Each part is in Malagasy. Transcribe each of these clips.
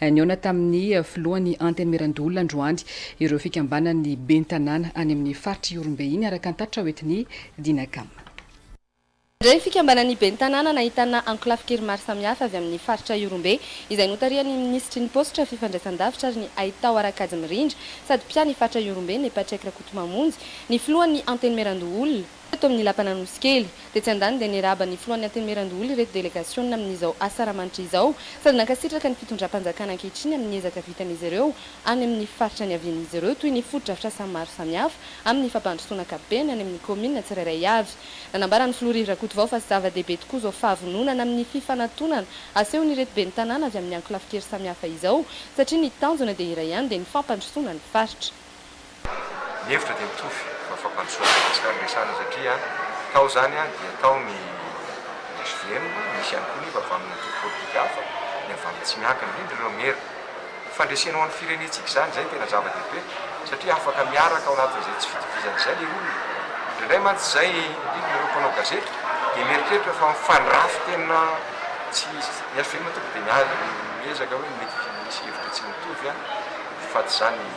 Nihaona tamin'ny filohan'ny Antenimierandoholona androany ireo fikambanan'ny ben'ny tanàna any amin'ny faritra Ihorombe iny, araka ny tatitra hoentin'ny Dinacam. Iray fikambanan'ny ben'ny tanàna nahitana ankolafin-kery maro samihafa avy amin'ny faritra Ihorombe, izay notarihan'ny minisitry ny Paositra, Fifandraisandavitra ary ny Haitao Harakajy Mirindra sady mpiahy ny faritra Ihorombe, Me Patrick Rakotomamonjy, ny filohan'ny Antenimierandoholona. Teto amin'ny lapan'Anosikely, tetsy an-daniny dia nirahaba ny Filohan'ny Antenimierandoholona ireto delegasiona amin'izao asa ramanitra izao sady nankasitraka ny fitondram-panjakana ankehitriny amin'ny ezaka vitan'izy ireo any amin'ny faritra niavian'izy ireo toy ny fotodrafitrasa maro samihafa amin'ny fampandrosoana ankapobeny any amin'ny kaominina tsirairay avy. Nanambara ny Filoha Riry Rakotovao fa zava-dehibe tokoa izao fahavononana amin'ny fifanatonana asehon'ireto ben'ny tanàna avy amin'ny ankolafin-kery samihafa izao satria ny tanjona dia iray ihany dia ny fampandrosoana ny faritra. Ny hevitra dia mitovy fa fampandrosoana an'i Madagascar no resahana satria tao izany dia tao ny hvm, misy ihany koa nefa avy amin'ny antoko politika hafa, ny avy amin'ny tsy miankina, indrindra ireo maire. Fandresena ho an'ny firenentsika izany, izay no tena zava-dehibe satria afaka miaraka ao anatin'izay tsy fitovizana izay ilay olona. Indraindray mantsy izay, indrindra ireo mpanao gazety dia mieritreritra fa mifandrafy tena tsy izy. Ny hvm tonga dia miezaka hoe mety hisy hevitra tsy mitovy fa tsy izany ny.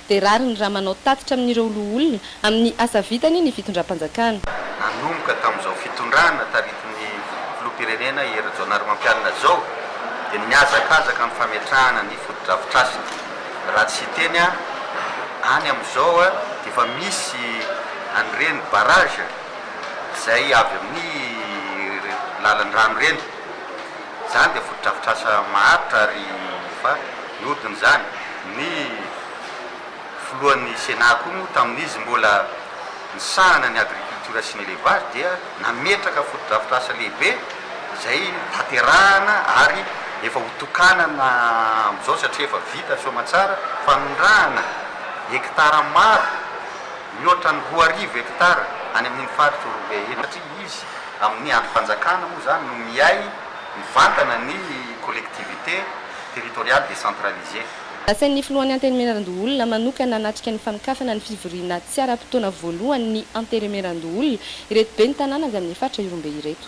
dia rariny raha manao tatitra amin'ireo loholona amin'ny asa vitany ny fitondram-panjakana. Nanomboka tamin'izao fitondrana taritin'ny Filoham-pirenena Hery Rajaonarimampianina izao dia nihazakazaka ny fametrahana ny fotodrafitrasiny. Raha tsy hiteny aho, any amin'izao dia efa misy an'ireny barrage izay avy amin'ny lalan-drano ireny. Izany dia fotodrafitrasa maharitra ary efa nihodina izany. Ny filohan'ny Sénat koa moa tamin'izy mbola nisahana ny agriculture sy ny élevage dia nametraka fotodrafitrasa lehibe izay tanterahana ary efa ho tokanana amin'izao satria efa vita soamantsara fanondrahana hectares maro mihoatra ny roa arivo hectares any amin'iny faritra Orobe iny. Izy. Amin'ny andro fanjakana moa izany no mihay mivantana ny collectivités territoriales décentralisées. Nasain'ny Filohan'ny Antenimierandoholona manokana hanatrika ny fanokafana ny fivoriana tsy ara-potoana voalohany ny Antenimierandoholona ireto ben'ny tanàna avy amin'ny faritra Ihorombe ireto.